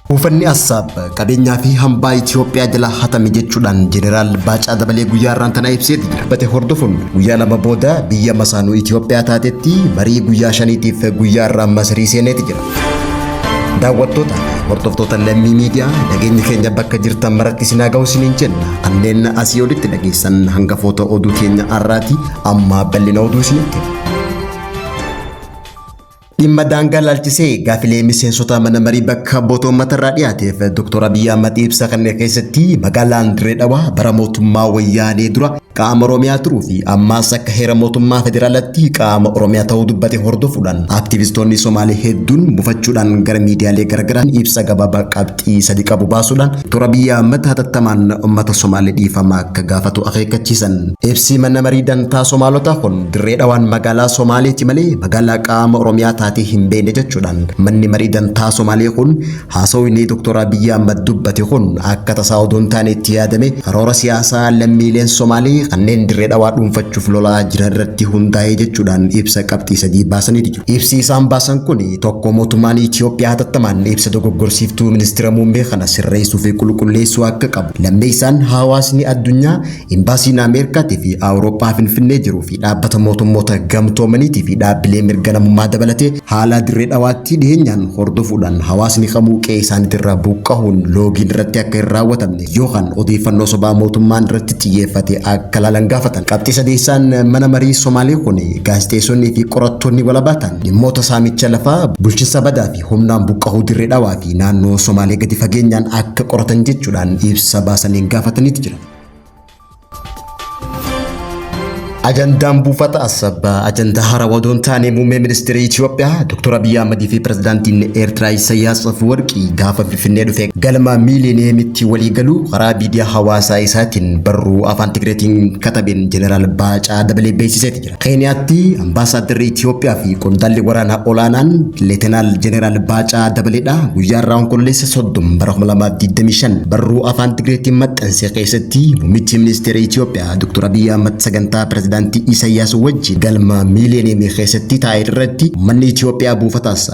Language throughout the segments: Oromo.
Buufanni Assaab qabeenyaa fi hambaa Itoophiyaa jala hatame jechuudhaan Jeneraal Baacaa Dabalee guyyaa irraan tana ibseeti jira. Bate hordofuun guyyaa lama booda biyya masaanuu Itoophiyaa taatetti marii guyyaa shaniitiif guyyaa irraa Masirii seeneeti jira. Daawwattoota fi hordoftoota lammii miidiyaa nageenyi keenya bakka jirtan maratti isin haa ga'u isiniin jenna. Kanneen asii olitti dhageessan hangafoota oduu keenya har'aati amma bal'ina oduu isinitti. Dhimma daangaa laalchisee gaafilee miseensota mana marii bakka bu'oota uummatarraa dhiyaateef Dr. Abiyyi Ahmad ibsa kanneen keessatti magaalaan Dirree Dhawaa bara mootummaa wayyaanee dura Qaama Oromiyaa turuu fi ammaas akka heera mootummaa federaalatti qaama Oromiyaa ta'uu dubbate hordofuudhaan aktivistoonni Somaalee hedduun bufachuudhaan gara miidiyaalee garaagaraan ibsa gabaabaa qabxii sadi qabu baasuudhaan Dr. Abiyyi Ahmad hatattamaan uummata Somaalee dhiifama akka gaafatu akeekkachiisan. Ibsi mana marii dantaa Somaalotaa kun dirree dhawaan magaalaa Somaaleeti malee magaalaa qaama Oromiyaa taatee hin beekne jechuudhaan manni marii dantaa Somaalee kun Haasawni Dr. Abiyyi Ahmad dubbate kun akka tasaa odoo hin taane itti yaadame karoora siyaasaa lammiileen Somaalee kanneen Dirree Dhawaa dhuunfachuuf lolaa jiran irratti hundaa'ee jechuudhaan ibsa qabxii sadii baasaniiti jiru. Ibsi isaan baasan kun tokko mootummaan Itiyoophiyaa hatattamaan ibsa dogoggorsiiftuu ministira muummee kana sirreessuu fi qulqulleessuu akka qabu, lammeessaan hawaasni addunyaa Imbaasiin Ameerikaatii fi Awurooppaa Finfinnee jiruu fi dhaabbata mootummoota gamtoomaniitii fi dhaabbilee mirga namummaa dabalatee haalaa dirree dhawaattii dhiheenyaan hordofuudhaan hawaasni kamuu qe'ee isaaniitirraa buqqahuun loogiin irratti akka hin raawwatamne yookaan odeeffannoo sobaa mootummaan irratti xiyyeeffate akka laalan gaafatan. Qabxii sadeessaan mana marii Somaalee kun gaazexeessonnii fi qorattoonni walabaa ta'an dhimmoota saamicha lafaa, bulchinsa badaa fi humnaan buqqahuu dirree dhawaa fi naannoo Somaalee gadi fageenyaan akka qoratan jechuudhaan ibsa baasaniin gaafataniiti jira. Ajandaan buufata Asabbaa ajandaa haaraa odoo hin taane muummee ministeera Itoophiyaa Dr. Abiyyi Ahmad fi pirezidaantiin Eertiraa Isaayyaas Afwerqii gaafa Finfinnee dhufe galma miiliineemitti walii galuu karaa miidiyaa hawaasaa isaatiin barruu afaan Tigreetiin katabeen Jeneraal Baacaa dabalee beeksiseeti jira. Keeniyaatti ambaasaaddarri Itiyoophiyaa fi qondaalli waraanaa olaanaan Leetenaal Jeneraal Baacaa Dabaleedha guyyaa irraa Onkololeessa 30 bara 2025 barruu afaan Tigreetiin maxxanse keessatti muummichi ministeera Itiyoophiyaa Dr. Abiy Ahmad sagantaa pirezidaantii Isaayyaas wajjin galma miiliyoneemii keessatti taa'e irratti uummanni Itiyoophiyaa buufataas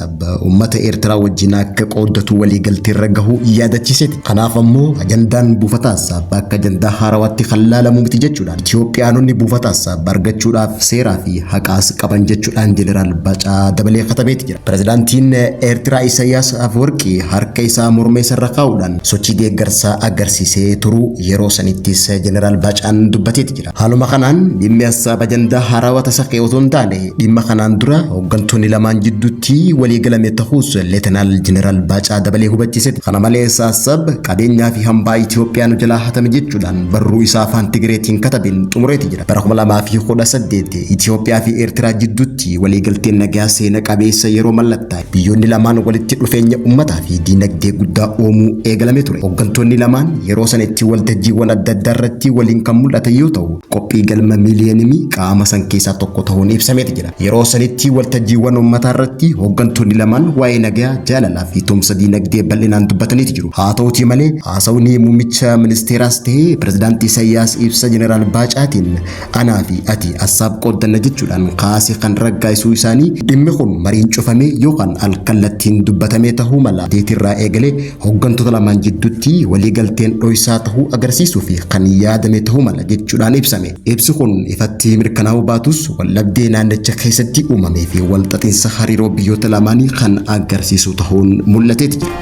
Uummata Eertiraa wajjin akka qooddatu waliigalteerra gahuu yaadachiiseeti. Kanaaf ammoo ajandaan buufataa Assaabbaa akka ajandaa haarawaatti kan laalamu miti jechuudhaan Itoophiyaanonni buufataa Assaabbaa argachuudhaaf seeraa fi haqaas qaban jechuudhaan Jeneraal Baacaa dabalee katabeeti jira. Pirezidaantiin Eertiraa Isaayyaas Afwerqii harka isaa morma isarra kaa'uudhaan sochii deeggarsaa agarsiisee turuu yeroo sanittis Jeneraal Baacaan dubbateeti jira. Haaluma kanaan dhimmi Assaab ajandaa haarawa tasa ka'e otoo hin taane dhimma kanaan dura hooggantoonni lamaan jidduutti walii galame ta'uus Leetanaal Jeneraal Baacaa Dabalee hubachiisetti. Kana malees Assaab qabeenyaa fi hambaa Itoophiyaa nu jalaa hatame jechuudhaan barruu isaa afaan Tigireetiin katabeen xumureeti jira. Bara 2018 Itoophiyaa fi Eertiraa jidduutti waliigalteen nagaa seena qabeessa yeroo mallattaa'e. Biyyoonni lamaan walitti dhufeenya ummataa fi diinagdee guddaa uumuu eegalamee ture. Hoggantoonni lamaan yeroo sana itti waltajjiiwwan adda addaa irratti waliin kan mul'atan yoo ta'u, qophii galma miiliyenimii qaama san keessaa tokko ta'uun ibsameeti jira. Yeroo sanitti waltajjiiwwan ummataa irratti hoggantoonni lamaan waa'ee nagayaa, jaalalaa fi tumsa diinagdee bal'inaan dubbataniiti jiru. Haa ta'uutii malee, haasawni muummicha ministeeraas ta'ee pirezidaanti Isayyaas ibsa Jeneraal Baacaatiin Anaa fi ati assaab qooddanna jechuudhaan kaase kan raggaa'isuu isaanii dhimmi kun mariin cufamee yookaan alkallattiin dubbatamee tahuu mala. Deetirraa eegalee hoggantoota lamaan jidduutti waliigalteen dhoysaa tahuu agarsiisuu fi kan yaadame tahuu mala jechuudhaan ibsame. Ibsi kun ifatti mirkanaa'uu baatus waldhabdee naannicha keessatti uumamee fi walxaxinsa hariiroo biyyoota lamaanii kan agarsiisu tahuun mul'ateeti jira.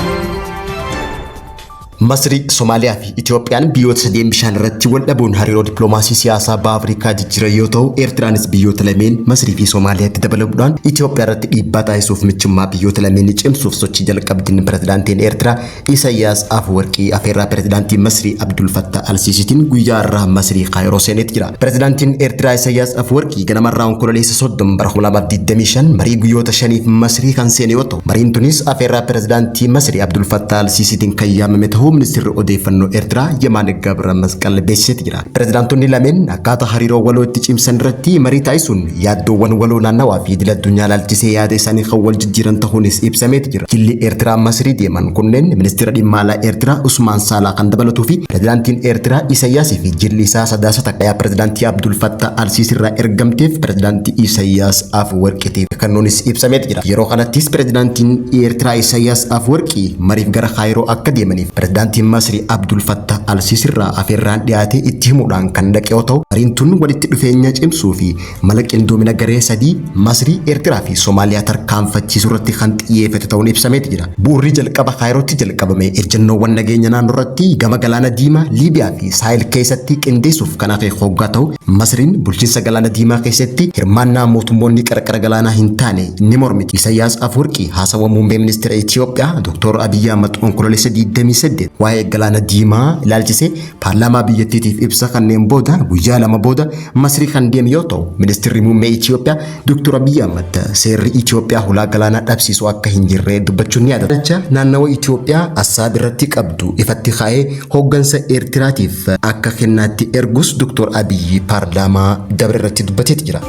Masrii, Somaaliyaa fi Itoophiyaan biyyoota sadeen bishaan irratti wal dhabuun hariiroo dippiloomaasii siyaasaa Baha Afrikaa jijjiiran yoo ta'u, Eertiraanis biyyoota lameen Masrii fi Somaaliyaatti dabalamuudhaan Itoophiyaa irratti dhiibbaa taasisuuf michummaa biyyoota lameenii cimsuuf sochii jalqabdin Pirezidaantiin Eertiraa Isayyaas Afwarqii afeerraa Pirezidaantii Masrii Abdul Fattah Al-Siisiitiin guyyaa har'aa Masrii Kaayiroo seeneet jira. Pirezidaantiin Eertiraa Isayyaas Afwarqii ganamarraa Onkololeessa 30 bara 2025 marii guyyoota shaniif Masrii kan seene yoo ta'u, Mariin tunis afeerraa pirezidaantii Masrii Abdul Fattah al-Siisiitiin kan yaamame tahuu ministeerri odeeffannoo Eertiraa Yemaan Gabra Masqal beeksiseeti jira. Pirezidaantonni lameen akkaataa hariiroo waloo itti cimsan irratti marii taasisuun yaaddoowwan waloo naannawaa fi idil addunyaa ilaalchisee yaada isaanii kan wal jijjiiran tahuunis ibsameeti jira. Jilli Eertiraa Masrii deeman kunneen ministeera dhimma alaa Eertiraa Usmaan Saalaa kan dabalatuu fi pirezidaantiin Eertiraa Isayyaasii fi jilli isaa sadaasa xaqayaa pirezidaantii Abdul Fattah al-Siisii irraa ergamteef pirezidaantii Isayyaas Afwerqiitiif kennuunis ibsameeti jira. Yeroo kanattis Pirezidaantiin Eertiraa Isaayyaas Afwarqii mariif gara Kaayiroo akka deemaniif Pirezidaantiin Masri Abdul Fattah al-Siisirraa afeerraan dhiyaatee itti himuudhaan kan dhaqe yoo ta'u, mariin tun walitti dhufeenya cimsuu fi mala qindoomina garee sadii, Masrii, Eertiraa fi Somaaliyaa tarkaanfachiisurratti kan xiyyeefate ta'uun ibsameeti jira. Bu'urri jalqaba Kaayirootti jalqabame ejjannoowwan nageenya naannoorratti gama Galaana Diimaa, Liibiyaa fi Saahel keessatti qindeessuuf kan hafe hoggaa ta'u, Masriin bulchiinsa galaana diimaa keessatti hirmaannaa mootummoonni qarqara galaanaa hin taane ni mormiti. Isayyaas Afwerqii haasawa muummee ministeera Itiyoophiyaa Dooktor Abiyyi Ahmad Onkololeessa 28 waa'ee galaana diimaa ilaalchisee paarlaamaa biyyattiitiif ibsa kanneen booda guyyaa lama booda Masrii kan deeme yoo ta'u, ministeerri muummee Itiyoophiyaa Dr. Abiy Ahmad seerri Itoophiyaa hulaa galaanaa dhabsiisu akka hin jirre dubbachuun ni yaadatama. Ilaalcha naannawa Itoophiyaa Assaab irratti qabdu ifatti kaa'ee hooggansa Eertiraatiif akka kennaatti ergus Dr. Abiy paarlaamaa dabre irratti dubbateeti jira.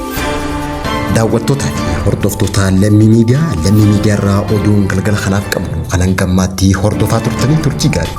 Daawwattootaa fi hordoftoota lammii miidiyaa lammii miidiyaa irraa oduun galgala kanaaf qabnu kan hanga ammaatti hordofaa turtanii turtii gaarii.